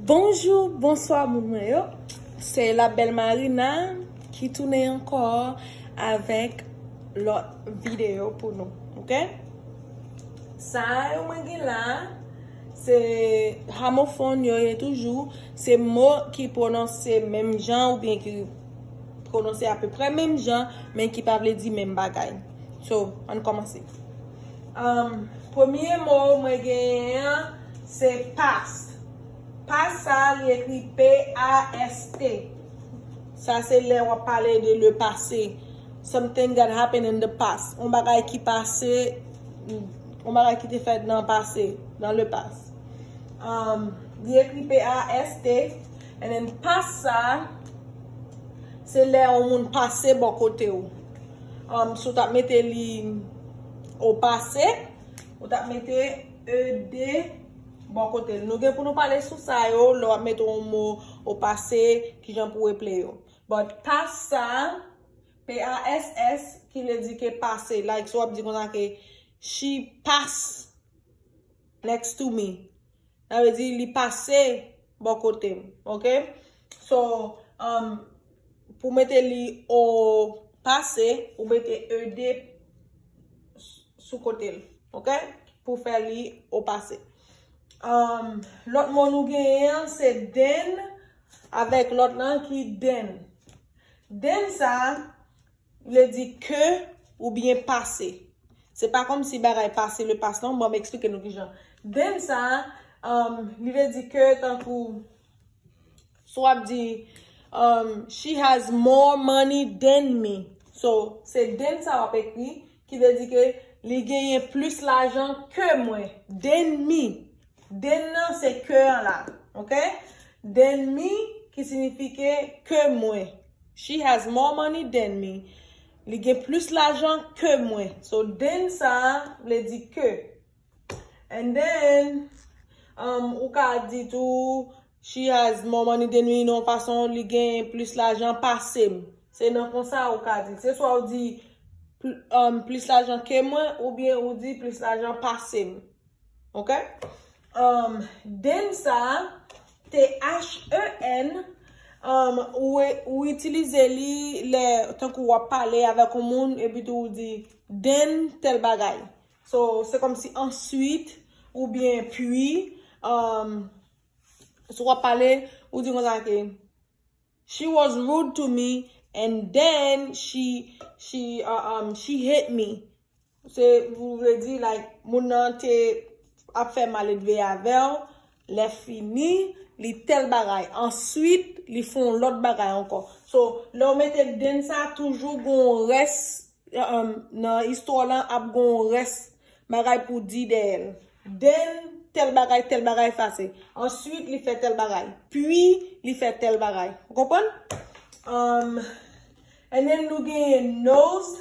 Bonjou bonswa moun mwen yo se la bèl marina ki tounen ankò avèk lòt videyo pou nou ok sa yo mwen gen la se hamofòn yo ye toujou se mo ki pwononse menm jan oubyen ki pwononse apeprè menm jan men ki pa vle di menm bagay so ann kòmanse Premye mo mwen genyen an se past. Past sa a li ekri p-a-s-t. Sa se lè w ap pale de le pase. Something that happened in the past. Yon bagay ki pase, yon bagay ki te fèt nan pase, nan le past. Li ekri p-a-s-t. And then past sa a se lè yon moun pase bò kote w. Si w tap mete li o pase, ou tap mete ED bò kote l. Nou gen pou nou pale sou sa yo lè w ap mete yon mo o pase, ki jan pou w eple yo. But pass sa, p-a-s-s, ki vle di ke pase. Like si w ap di konsa ke, She pass next to me. Sa vle di li pase bò kote m. Ok. So, pou w mete li o pase, ou mete ed sou kote l. Ok. Pou w fè li o pase. Lòt mo nou genyen an se den avèk lòt lan ki denn. Denn sa a. Vle di ke oubyen pase. Se pa kòm si bagay pase le pas non, banm eksplike nou kijan. Then sa, um, li vle di ke tankou, si wap di, um, she has more money then me. So, se then sa wap ekri, ki vle di ke li genyen plis lajan ke mwen. Then me. Den nan se ke an la. Ok. Than me ki sinifike ke mwen. She has more money than me. Li gen plis lajan ke mwen. So than sa a vle di ke. And then um ou ka di tou she has more money than me nan yon fason li gen plis lajan pase m. Se nan konsa ou ka di l. Se swa ou di um plis lajan ke mwen oubyen ou di plis lajan pase m. Ok um den sa T H E N um ou itilize li lè tankou wap pale avèk yon moun epi tou ou di den tèl bagay so se kòmsi answit oubyen pwi um si wap pale ou di konsa ke she was rude to me and then she she um she hit me. Se ou vle di like moun nan te ap fè maledve avèw lè fini li tèl bagay answit li fè yon lòt bagay ankò so lèw mete dent sa toujou gen yon rès nan istwa w lan ap gen yon rès bagay pou di dèyèl then tèl bagay tèl bagay pase answit li fè tèl bagay pwi li fè tèl bagay ou konprann humm and then nou genyen nose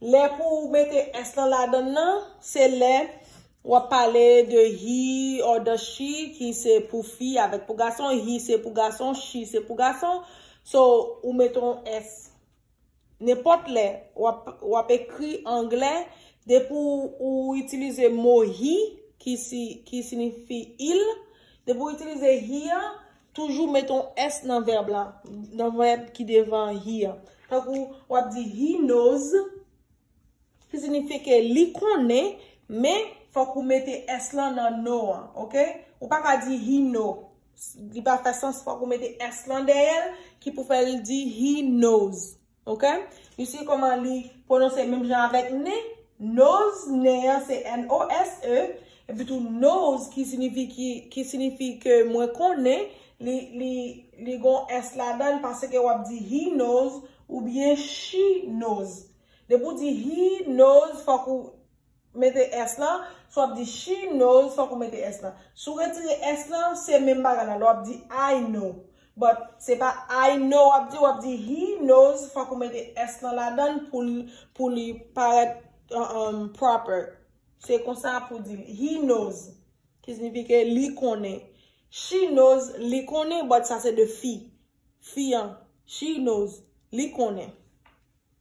Lè pou ou mete s lan ladann nan, se lè w ap pale de he or the she ki se pou fi avèk pou gason, he se pou gason, she se pou gason. So, ou mete yon s. Nenpòt lè w ap ekri angle, depi ou itilize mo he ki sinifi il, depi ou itilize he an, Toujou met on s nan vèb la, nan vèb ki devan he a. Tankou, w ap di, He knows, ki sinifye ke li konnen, men, fòk ou mete s lan nan know an, ok? Ou pa ka di he know. Li pa fè sans, fòk ou mete s lan dèyè l, ki pou fè l di he knows. Ok You see koman li pwononse menm jan avèk ne? Nose, ne an se N-O-S-E, epi tou knows ki sinifi ki, ki sinifi ke mwen konnen, li, li, li gon s ladann paske w ap di he knows oubyen she knows. Depi w di he knows fòk ou. Mete s lan, si w ap di she knows fòk ou mete s lan. Si w retire s lan, se menm bagay la, lè w ap di I know. But, se pa I know w ap di, w ap di he knows fòk ou mete s lan ladan l pou l pou li parèt proper. Se konsa pou di l. He knows, ki signifike li konnen. She knows, li konnen, but sa se de fi. Fi an, she knows, li konnen.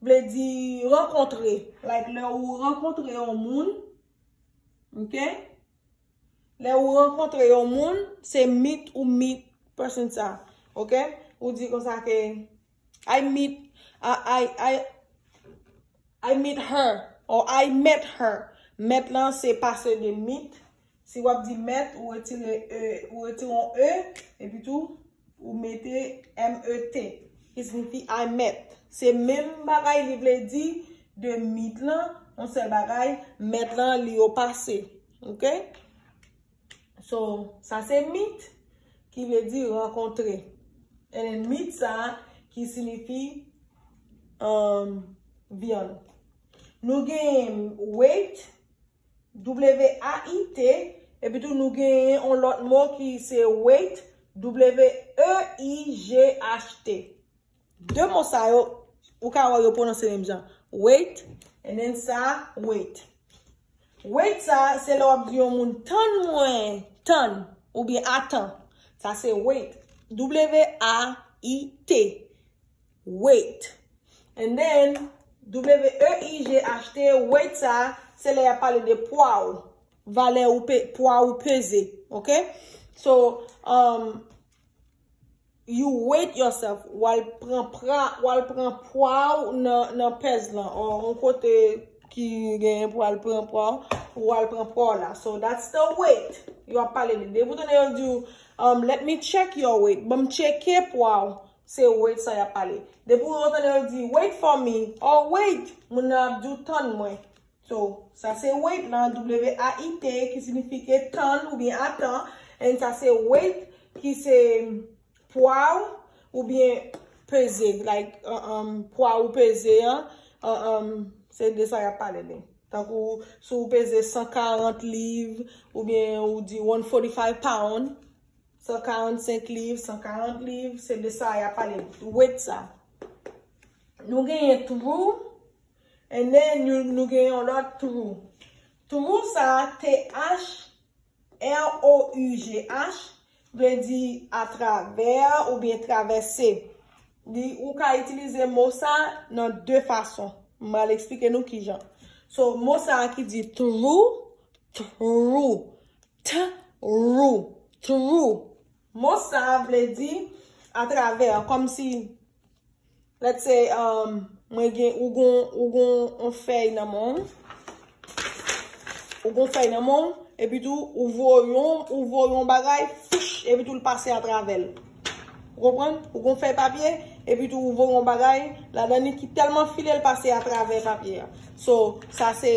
Vle di rankontre. Like lè ou rankontre yon moun. Ok. Lè ou rankontre yon moun. Se meet ou meet person sa. Ok. Ou di konsa ke. I meet. I meet her. Or I met her. Met lan se pase de meet. Si w ap di mèt, ou retire e, ou retire yon e, epi tou, ou mete MET, ki signifi I met. Se menm bagay li vle di de meet lan, yon sèl bagay, met lan li o pase. Ok? So, sa se meet, ki vle di rankontre. And then meat sa, ki signifi um, vyann. Nou gen weight. W-a-i-t, epi tou nou genyen yon lòt mo ki se wait, w-e-i-g-h-t. De mo sa yo, ou ka wè yo pwononse menm jan. Wait, and then sa, wait. Wait sa, se lè w ap di yon moun tann mwen, tann, oubyen atan. Sa se wait, w-a-i-t. Weight. And then, WEIGH achte, weight sa, se lè yap pale de pwa ou. Valè ou pe, pwa ou peze. Ok? So, um, you weight yourself. Ou al pran pra, ou al pran pwa ou nan, nan pèz lan. Ou an kote ki genyen pou al pran pwa ou, ou al pran pwa ou la. So, that's the weight. Yo ap pale de, depi ou tande yo di ou, um, let me check your weight. Banm tcheke pwa ou. Se wait sa yap pale. Depi ou tande yo di wait for me or wait moun nan ap di w tann mwen. So, sa se wait lan, w-a-i-t, ki sinifike tann oubyen atan and sa se wait ki se pwa w oubyen peze like pwa ou peze an umm se de sa yap pale de. Tankou si w peze 140 liv oubyen ou di 145 pound. 145 liv, 140 liv, se de sa y ap pale. Wet sa. Nou genyen twou, ene nou genyen yon lòt twou. Twou sa, TH, R-O-U-G-H, vle di atravè ou byen travèse. Ou ka itilize mo sa nan de fason. M al eksplike nou ki jan. So, mo sa ki di twou, twou. True. True. Mo sa a vle di atravè, kòm si let's say um mwen gen ou gon ou gon on fèy nan men w, ou gon fèy nan men w epi tou ou voye on ou voye on bagay fish epi tou l pase atravè l. Ou konprann? Ou gon fèy papye epi tou ou voye on bagay ladan li ki tèlman file l pase atravè papye a. So sa se.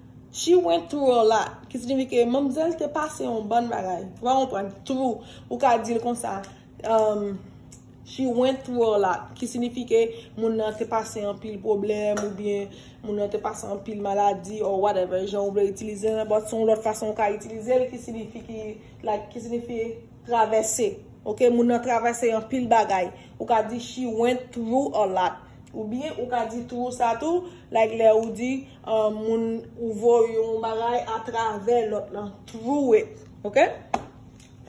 She went through a lot, ki signifike manmzèl te pase yon bann bagay. Ou pa konprann? Through, ou ka di l konsa, um, She went through a lot, ki signifike moun nan te pase anpil pwoblèm oubyen moun nan te pase anpil maladi or whatever jan ou vle itilize l, but se yon lòt fason ou ka itilize l ki signifi ki like ki signifi travèse. Ok, moun nan travèse anpil bagay. Ou ka di She went through a lot. Oubyen ou ka di through sa tou, like lè ou di. Moun ou voye yon bagay a travè lòt lan through it ok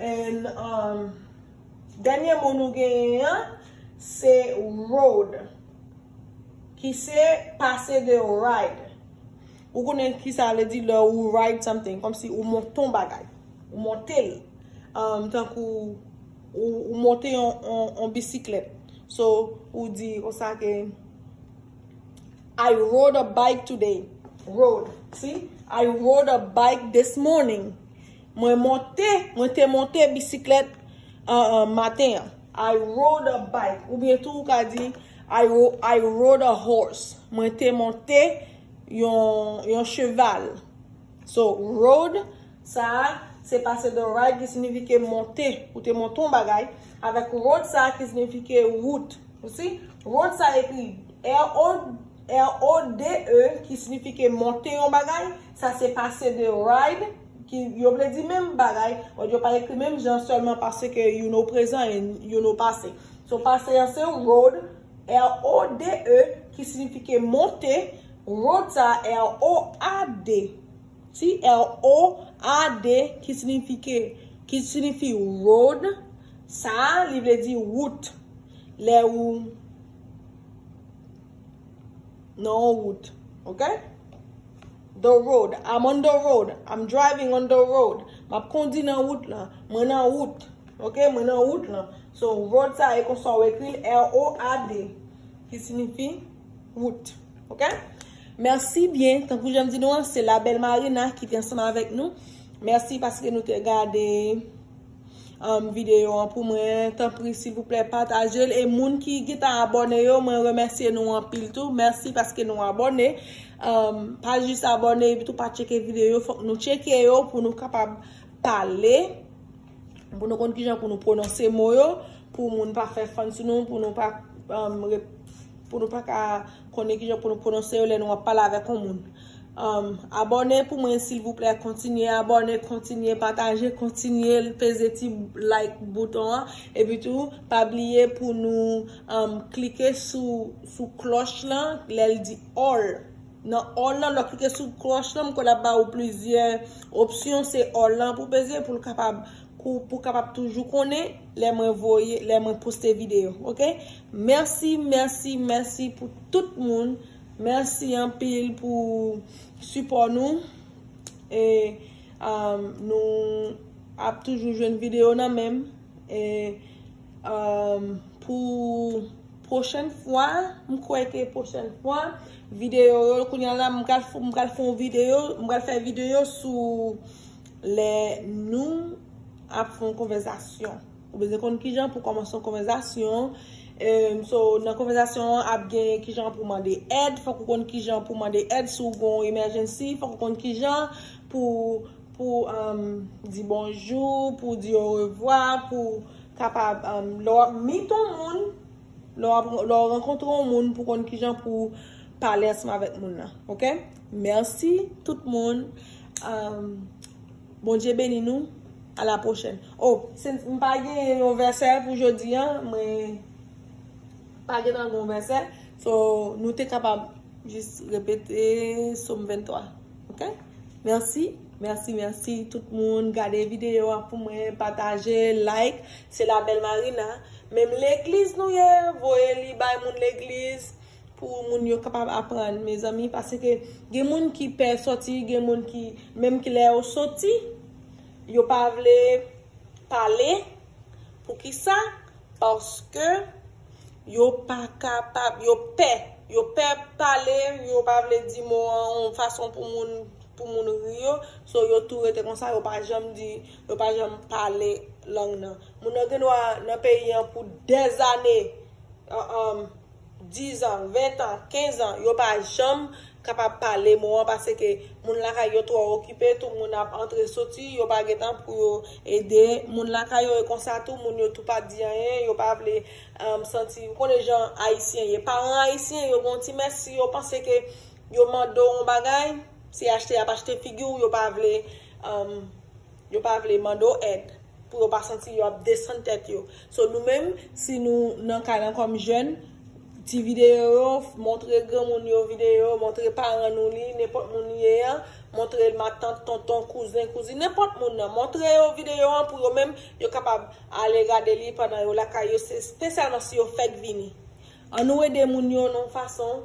and dènye mo nou genyen an se rode ki se pase de ride ou konnen ki sa vle di lè ou ride something kòm si ou monte yon bagay ou monte l tankou ou monte yon bisiklèt so ou di ou sa ke. I rode a bike today. Rode. Si. I rode a bike this morning. Mwen monte, mwen te monte bisiklèt maten an. I rode a bike. Ou byen tou ou ka di I rode a horse. Mwen te monte yon cheval. So road sa a se pase de ride ki signifike monte, ou te monte yon bagay, avèk road sa a ki signifike wout. You see? Road sa a ekri RODE ki signifike monte yon bagay, sa se pase de ride ki yo vle di menm bagay, but yo pa ekri menm jan sèlman pase ke youn o prezan e youn o pase. So pase an se road, RODE, ki signifike monte. Rota, ROAD, Ti r o a d ki sinifike, ki sinifi road, sa a, li vle di wout. Lè ou nan yon wout. Ok? The road, I'm on the road, I'm driving on the road. M ap kondi nan wout lan, mwen nan wout. Ok, mwen nan wout lan. So, road sa e konsa ou ekri l, ROAD, ki sinifi. wout ok merci byen tankou janm di nou an se la belle Marina ki te ansanm avèk nou merci paske nou te gade um video an pou mwen tanpri silvouplè patajel e moun ki gentan abòne yo mwen remèsye nou anpil tou merci paske nou abòne um pa jis abòne epitou pa tcheke video yo fòk nou tcheke yo pou nou kapab pale. Pou nou konn kijan pou nou pwononse mo yo, pou moun pa fè fann sou nou, pou nou pa pou nou pa ka konnen kijan pou nou pwononse yo lè nou ap pale avèk yon moun. Abòne pou mwen silvouplè, kontinye abòne, kontinye pataje, kontinye peze ti like bouton an. Epi tou, pa bliye pou nou klike sou klòch lan lè l di all. Nan all lan lò klike sou klòch lan m kwè lap ba ou plizyè opsyon se all lan pou peze pou l kapab pou kapab toujou konnen lè mwen voye lè mwen poste video ok mèsi mèsi mèsi pou tout moun mèsi anpil pou sipò nou e amm nou ap toujou jwenn video nan menm e amm pou. Prochèn fwa, m kwè ke prochèn fwa, videyo yo, kounya la m pral m pral fè yon videyo, m pral fè videyo sou lè nou ap fè yon konvèzasyon. Ou bezwen konn kijan pou kòmanse yon konvèzasyon. So, nan konvèzasyon an ap gen kijan pou mande èd, fòk ou konn kijan pou mande èd si w gen yon emèjènsi, fòk ou konn kijan pou. Pou di bonjou, pou di orevwa, pou kapab lè w ap meet yon moun, lè w rankontre yon moun pou konn kijan pou pale ansanm avèk moun nan. Ok? Mèsi tout moun. Bondye beni nou. A la pwochèn. O, m pa gen yon vèsè pou jodi an, mwen pa gen nan yon vèsè. So, nou te kapab jis repete som 23. Ok merci merci merci tout moun gade video a pou mwen pataje like se la belle Marina menm legliz nou ye voye li bay moun legliz pou moun yo kapab aprann mezanmi paske gen moun ki pè soti gen moun ki menm ki lè yo soti yo pa vle pale pou kisa paske. Yo pa kapab, yo pè. Yo pè pale, yo pa vle di mo an yon fason pou moun pou moun ri yo. So yo tou rete konsa, yo pa janm di, yo pa janm pale lang nan. Moun nan gendwa nan peyi an pou dèzane, 10 an, 20 an, 15 an, yo pa janm. kapab pale mo an pase ke moun lakay yo twò okipe tou moun ap antre soti yo pa gen tan pou yo ede moun lakay yo e konsa tou moun yo tou pa di anyen yo pa vle santi ou konnen jan ayisyen ye paran ayisyen yo gen yon ti mès si yo panse ke yo mande w yon bagay se achte y ap achte figi w yo pa vle Yo pa vle mande w èd pou yo pa santi yo ap desann tèt yo. So nou menm si nou nan kay lan kòm jèn, ti videyo yo, montre granmoun yo videyo yo, montre paran nou li, nenpòt moun li ye an, montre matant, tonton, kouzen, kouzin, nenpòt moun nan, montre yo videyo an pou yo menm yo kapab ale gade li pandan yo lakay yo se spesyalman si yo fèk vini. An nou ede moun yo nan yon fason.